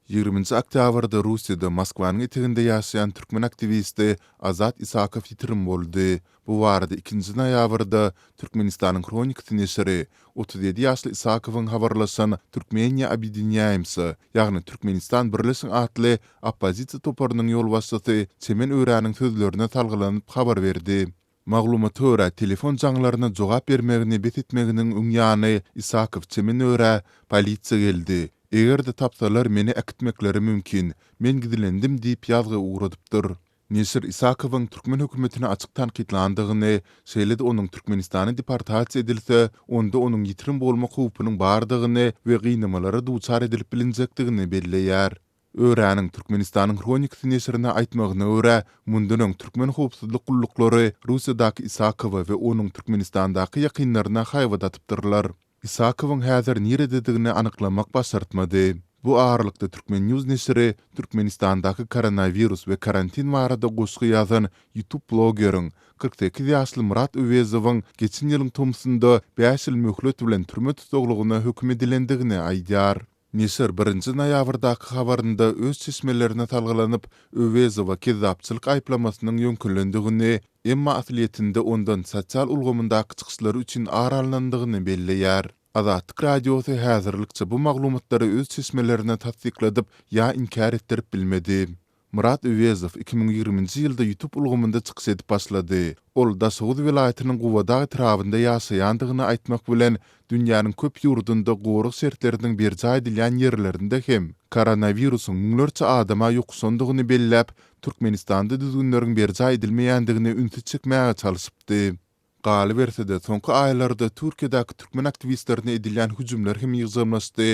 Ýigriminji oktýabrda Russiýada Moskwanyň eteginde ýaşaýan türkmen aktiwisti Azat Isakow ýitirim boldy. Bu barada ikinji noýabrda Türkmenistanyň Hronikasy neşiri otuz ýedi ýaşly Isakowyň habarlaşan Türkmeniýa obýedinýaýmsa, ýagny Türkmenistan birleşiň atly oppozisiýa toparynyň ýolbaşçysy Çemen Öräniň sözlerine salgylanyp habar berdi. Maglumata görä, telefon jaňlaryna jogap bermegini bes etmeginiň öň ýany Isakow çemene görä, polisiýa geldi. Eger-de tapsalar, meni äkitmekleri mümkin. Men gizlendim diýip ýazgy ugradypdyr. Neşir Isakowyň türkmen hökümetini açyk tankytlandygyny, şeýle-de onuň Türkmenistana deportasiýa edilse, onda onuň ýitirim bolmak howpunyň bardygyny we gynamalara duçar edilip bilinjekdigini belleýär. Öraniň Türkmenistanyň Hronikasy neşirine aýtmagyna görä, mundan öň türkmen howpsuzlyk gulluklary Russiýadaky Isakowa we onuň Türkmenistandaky ýakynlaryna haýbat atypdyrlar. Isakowyň häzir nirededigini anyklamak başartmady. Bu aralykda Turkmen. News neşiri Türkmenistandaky koronawirus we karantin barada goşgy ýazan ýutub blogeriň, kyrk sekiz ýaşly Myrat Öwezowyň geçen ýylyň tomusynda bäş ýyl möhlet bilen türme tussaglygyna höküm edilendigini aýdýar. Neşir birinji noýabrdaky habarynda öz çeşmelerine salgylanyp, Öwezowa kezzapçylyk aýyplamasynyň ýöňkelendigini, emma aslyýetinde ondan sosial ulgamyndaky çykyşlary üçin ar alnandygyny belleýär. Azatlyk Radiosy häzirlikçe bu maglumatlary öz çeşmelerine tassykladyp ýa inkär etdirip bilmedi. Myrat Öwezow iki müň ýigriminji ýylda YouTube ulgamynda çykyş edip başlady. Ol Daşoguz welaýatynyň Gubadag etrabynda ýaşaýandygyny aýtmak bilen, dünýäniň köp ýurdunda gorag şertleriniň berjaý edilýän ýerlerinde hem koronawirusyň müňlerçe adama ýokuşandygyny belläp, Türkmenistanda düzgünleriň berjaý edilmeýändigine ünsi çekmäge çalşypdy. Galyberse-de, soňky aýlarda Türkiýedäki türkmen aktiwistlerine edilýän hüjümler hem ýygjamlaşdy,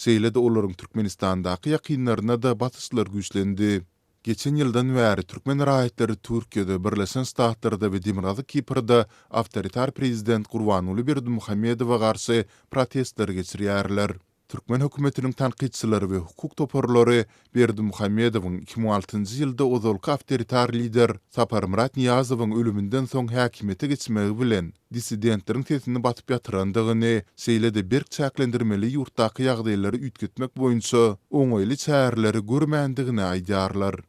şeýle-de olaryň Türkmenistandaky ýakynlaryna-da basyşlary güýçlendi. Geçen ýyldan bäri türkmen raýatlary Türkiýede, Birleşen Ştatlarda we Demirgazyk Kiprde awtoritar prezident Gurbanguly Berdimuhamedowa garşy protestleri geçirýärler. Türkmen hökümetiniň tankytçylary we hukuk toparlary Berdimuhamedowyň iki müň altynjy ýylda ozalky awtoritar lider Saparmyrat Nyýazowyň ölüminden soň häkimiýete geçmegi bilen dissidentleriň sesini basyp ýatyrandygyny, şeýle-de berk çäklendirmeli ýurtdaky ýagdaýlary üýtgetmek boýunça oňaýly çäreleri görmändigini aýdýarlar.